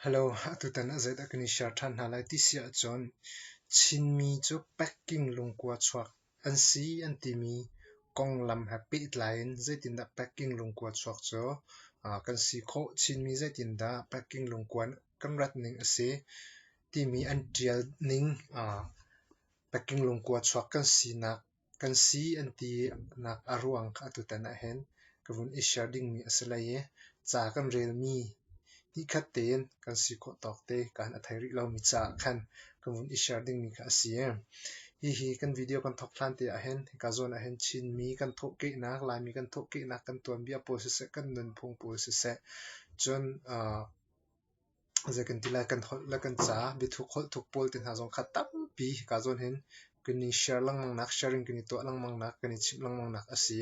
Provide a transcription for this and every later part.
Hello, atutan ah zeidah kan i share ṭhan hna lai ti si ahcun Chinmi cu packing lungkua chuak an si an timi konglam he pehtlai in zeitindah packing lungkua chuak cu kan si khawh. Chinmi zeitindah packing lungkua kan rat ning a si timi an ṭial ning packing lungkua chuak kan sinak Kan si an tinak a ruang kha atutan ahhin ka vun i share dingmi a si lai i ca kan relmi nikhat tein kan si khawh tawk te kaan a thei rih lomi caah khan ka vun i share dingmi kha a si. Hihi kan video kan thawk hlan te ahhin hika zawn ahhin Chinmi kan thawhkehnak, Laimi kan thawhkehnak kan tuanbia pawl siseh, kan nunphung pawl siseh cun aa Zei kan ti lai, kan holh le kan ca, biathuk holh thuk pawl te hna zong kha tampi kaa zawn hin kan i share lengmang nak, sharing kan i tuah lengmang nak, kan i chimh lengmang nak a si.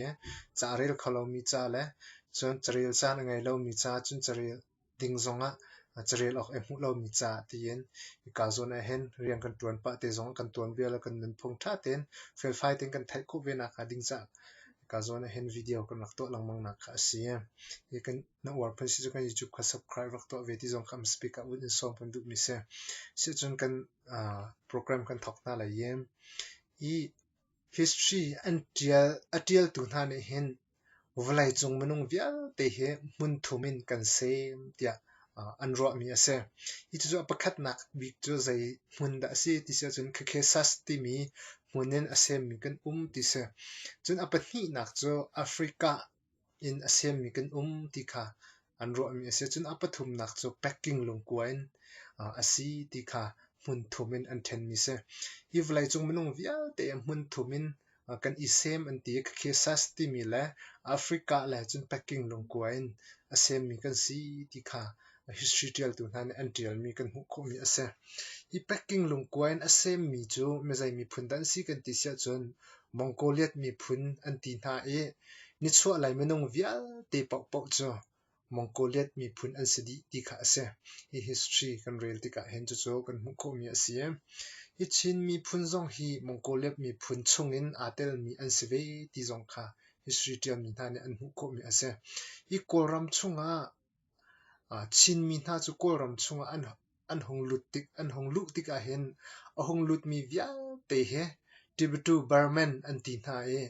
Ca a rel kho lomi ca le cun carel caan a ngei lomi ca, cun carel ding zongah carel awk i hmuh lomi ca tiin i kaa zawn ahhin rian kan ṭuan pah te zong, kan tuanbia le kan nunphung ṭha tein felfai tein kan theih khawh ve nak hnga ding caah kaa zawn ahhin video kan rak tuah lengmang nak kha a si. Hi kan Na uar phan si cu kan YouTube kha subscribe rak tuah ve ti zong kha speaker ah wun in sawm kan duhmi si. Sihcun kan uh, program kan thawk hna lai yen. I history an tial a tialtu hna nih hin vawleicung minung vialte hi hmun thum in kan sem tiah uh, an ruahmi a si. Hi cucu a pakhatnak bik cu zei hmun dah a si ti si ahcun Khakesas timi hmun in a semmi kan um ti si. Cun a pahnihnak cu Africa inn a siammi kan um ti kha an ruahmi a si. Cun a pathumnak cu packing lungkua in a si ti kha hmunthum in an ṭhenmi a si. Hi vawleicung minung vialte hmunthum in kan i sem an ti i Cakhesas timi le Africa le cun packing lungkua in a semmi kan si ti kha history ṭialtu hna nih an ṭialmi kan hmuh khawhmi a si. Hi packing lungkua in a semmi cu mizei miphun dah an si kan ti siahcun Mongoliat miphun an ti hna i nichuahlei minung vialte paohpaoh cu Mongoliat miphun an si dih ti kha a si. Hi history kan rel tikah hin cucu kan hmuh khawhmi a si. Hi Chin miphun zong hi Mongoliat miphun chungin aa telmi an si ve ti zong kha history ṭialmi hna nih an hmuh khawhmi a si. Hi Kawlram chungah Chinmi hna cu Kawlram chungah an hung luh tik ahhin a hung lutmi vialte hi Tibetu Burman an ti hna i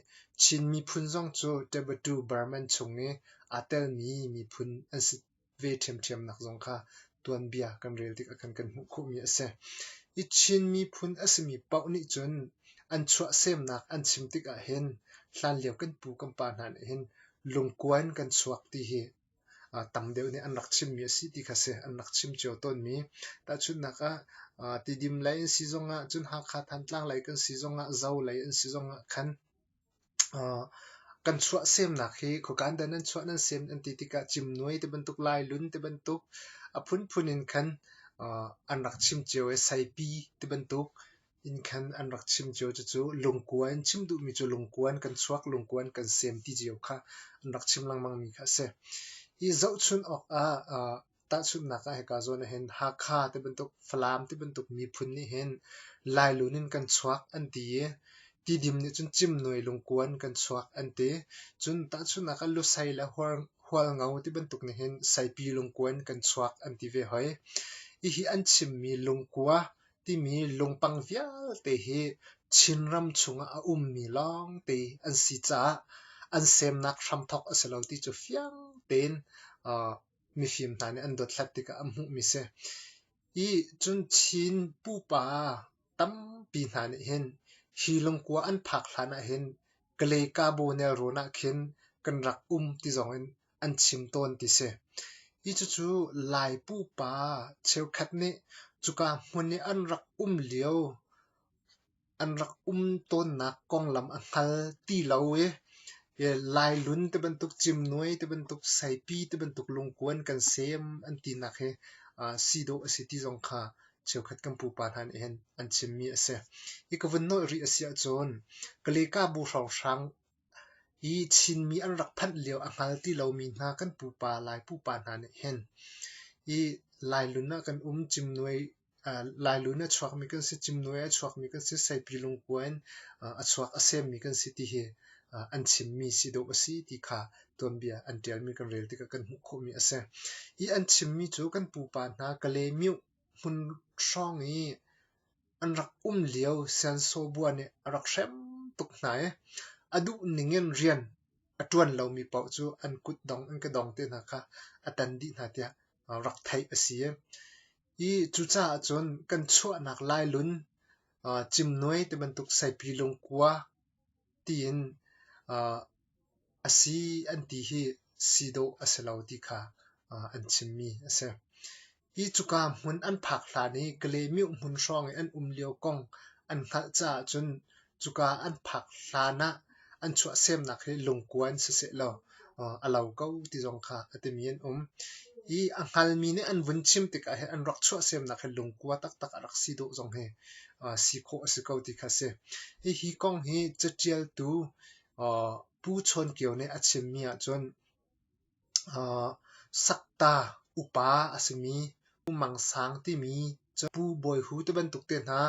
Chin miphun zong cu Tibetu Burman chung i aa telmi miphun an si ve ṭhiamṭhiam nak zong kha tuanbia kan rel tik ahkhan kan hmuh khawhmi a si. I Chin miphun a simi paoh nih cun an chuahsemnak an chim tik ahhin hlanlio kan pu kan pa hna nih hin lungkuan kan chuak ti hi tam deuh nih an rak chimmi a si ti kha si. An rak chim cio tawnmi tahchunhnak ah Tidim lei an si zongah cun Hakha Thantlang lei kan si zongah Zo lei an si zongah khan kan chuah semnak hi khuakan dan an chuah nan sem an ti tikah cimnuai ti bantuk lailun ti bantuk a phunphun in khan an rak chim cio i saipi ti bantuk Inn khan an rak chim cio. Cucu lungkua in chim duhmi cu lungkua in kan chuak, lungkua in kan sem ti cio kha an rak chim lengmangmi kha a si. Hi zohchunh awkah uh, tahchunhnak ah hika zawn ahhin Hakha ti bantuk Falam ti bantuk miphun nih hin Lailun in kan chuak an ti i tidim nih cun cimnuai lungkua in kan chuak an ti. Cun tahchunhnak ah Lusei le Hualngo ti bantuk nih hin Saipi lungkua in kan chuak an ti ve hoi. Hihi an chimmi lungkua timi lungpang vialte hi Chinram chungah a ummi lawngte an si caah an semnak hramthawk a si lo ti cu fiang tein mifim hna nih an dothlat tikah an hmuhmi si. Hi cun Chin pupa tampi hna nih hin hi lungkua an phak hlan ah hin Kalay Kabaw nelrawn ah khin kan rak um ti zong in an chim tawn ti si. Hi cucu Lai pupa cheukhat nih cuka hmun i an rak um lio an rak um tawnnak konglam a hngal ti lo i Lailun ti bantuk cimnuai ti bantuk saipi ti bantuk lungkuan kan sem an tinak hi si dawh a si ti zong kha cheukhat kan pupa hna nih hin an chimmi a si. Hi ka vun nolh rih a si ahcun Kaleka bu hrawnghrang Hi Chinmi an rak phanh lio a hngal ti lomi hna kan pupa Lai pupa hna nih hin hi Lailun ah kan um cimnuai Lailun a chuakmi kan si, cimnuai a chuakmi kan si, Saipi lungkua in a chuak a semmi kan si ti hi an chimmi si dawh a si ti kha tuanbia an ṭialmi kan rel tikah kan hmuh khawhmi a si. Hi an chimmi cu kan pupa hna Kale-myuh hmun hrawng i an rak um lio sensawbua nih a rak hrem tuk hna i a duh ning in rian a ṭuan lomi paoh cu an kut dong an ke dong te hna kha a tan dih hna tiah rak theih a si i cucaah cun kan chuahnak lailun cimnuai ti bantuk saipi lungkua tiin a si an ti hi si dawh a si lo ti kha an chimmi a si. Hi cuka hmun an phak hlan i Kalymyuk hmun hrawng i an um lio kong an hngalh caah cun cuka an phak hlan ah an chuahsemnak hi lungkuan siseh law a lo ko ti zong kha a timi an um. I a hngalmi nih an vun chim tikah hin an rak chuahsemnak hi lungkua taktak a rak si dawh zong hi si khawh a si ko ti kha a si. Hihi kong hi catialtu Pu Chawn Kio nih a chimmi ahcun sakta upa a simi Pu Mang Sang timi cu Pu Bawi Hu te bantuk te hna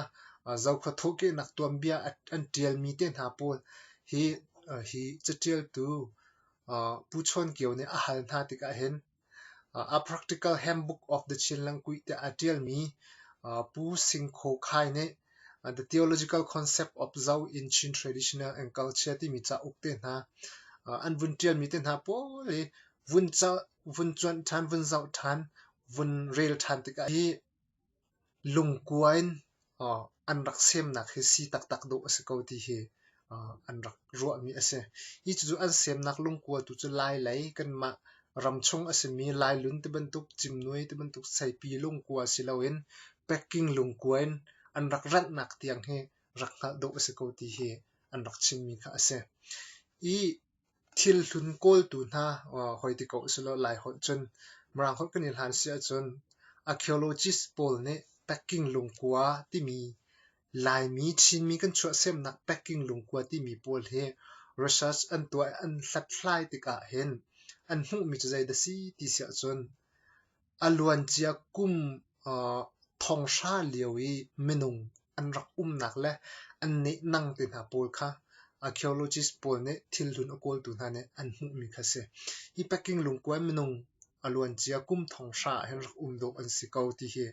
Zokhua thawhkehnak tuanbia an ṭialmi te hna pawl hi caṭialtu Pu Chawn Kio nih a hal hna tikah hin A Practical Handbook of the Chin Language tiah a ṭialmi Pu Sing Khaw Khai nih The Theological Concept of Zo in Chin Traditional and Culture timi cauk te hna an vun ṭialmi te hna pawl hi vun vun cuanh ṭhan, vun zoh ṭhan, vun rel ṭhan tikah hi lungkua in an rak semnak hi si taktak dawh a si ko ti hi an rak ruahmi a si. Hi cucu an semnak lungkua tu cu lailei kanmah ramchung a simi Lailun tibantuk, Cimnui tibantuk seipi lungkua si loin packing lungkua in an rak ranhnak tiang hi rak hngalh dawh a si ko ti hi an rak chimmi kha a si. Hi Thilhlun kawltu hna hoi ti ko usilaw Lai holh cun Mirang holh kan i hlan si ahcun archaeologist pawl nih packing lungkua timi Laimi Chinmi kan chuahsemnak packing lungkua timi pawl hi research an tuah an hlathlai tikah hin an hmuhmi cu zeidah a si ti si ahcun a luancia kum thonghra lio i minung an rak umnak le an nehnang te hna pawl kha archaeologist pawl nih thilhlun a kawltu hna nih an hmuhmi kha a si. Hi Peking lungkua in minung a luancia kum thonghra ah hin rak um dawh an si ko ti hi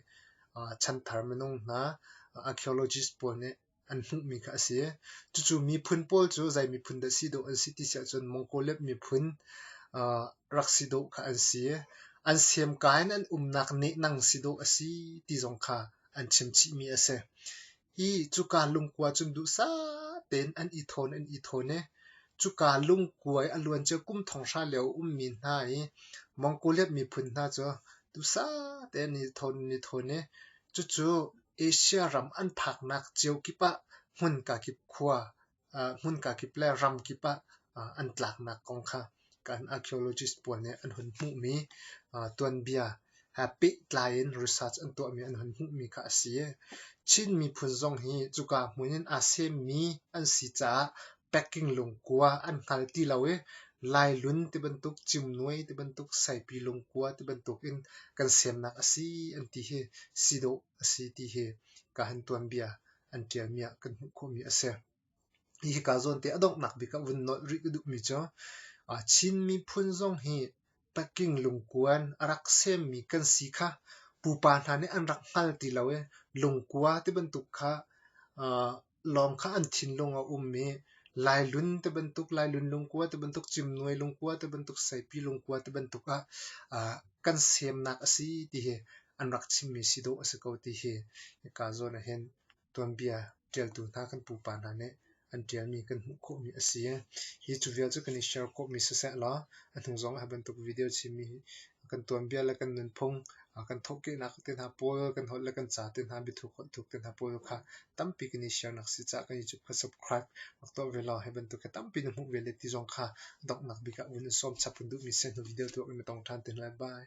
chanthar minung hna archaeologist pawl nih an hmuhmi kha a si. Cucu miphun pawl cu zei miphun dah si dawh an si ti si ahcun Mongolian miphun uh, rak si dawh kha an si. An semka in an umnak nehnang si dawh a si ti zong kha an chimchihmi a si. Hi cuka lungkua cun duhsah tein an i thawn an i thawn i cuka lungkuai a luan cu kum thong hra lio ummi hna i Mongolian miphun hna cu duhsah tein an i thawn an i thawn i Cucu Asia ram an phaknak cio kip ah hmunka kip khua, hmunka kip le ram kip ah an tlaknak kong kha kan archaeologist pawl nih an hun hmuhmi tuanbia he pehtlai in research an tuahmi an hun hmuhmi kha a si. Chin miphun zong hi cuka hmun in aa semmi an si caah packing lungkua an hngal ti lo i Lailun tibantuk, Cimnuai tibantuk, Saipi lungkua tibantuk in kan semnak a si an ti hi si dawh a si ti hi ka han tuanbia an ṭialmi ah kan hmuh khawhmi a si. Hihi kaa zawnte a donghnak bik ah vun nolh rih ka duhmi cu Chin miphun zong hi packing lungkuan a rak semmi kan si kha pupa hna nih an rak hngal ti lo i lungkua tibantuk kha lawng kha an thinlung a um i Lailun ti bantuk, Lailun lungkua ti bantuk, Cimnuai lungkua ti bantuk, Saipi lungkua ti bantuk ah ah kan semnak a si ti hi an rak chimmi si dawh a si ko ti hi hika zawn ah hin tuanbia ṭialtu hna kan pupa hna nih an ṭialmi kan hmuh khawhmi a si. Hi cu vial cu kan i share khawhmi siseh law a hnu zong ah hi bantuk video chimmi hi kan tuanbia le kan nunphung, kan thawhkehnak te hna pawl, kan holh le kan ca te hna, biathuk holh thuk te hna pawl kha tampi kan i share nak si caah kan YouTube kha subscribe rak tuah ve law hi bantuk hi tampi na hmuh ve le ti zong kha donghnak bik ah vun in sawm chap kan duhmi si hnu video tuak in na tong ṭhan te hna lai. Bye.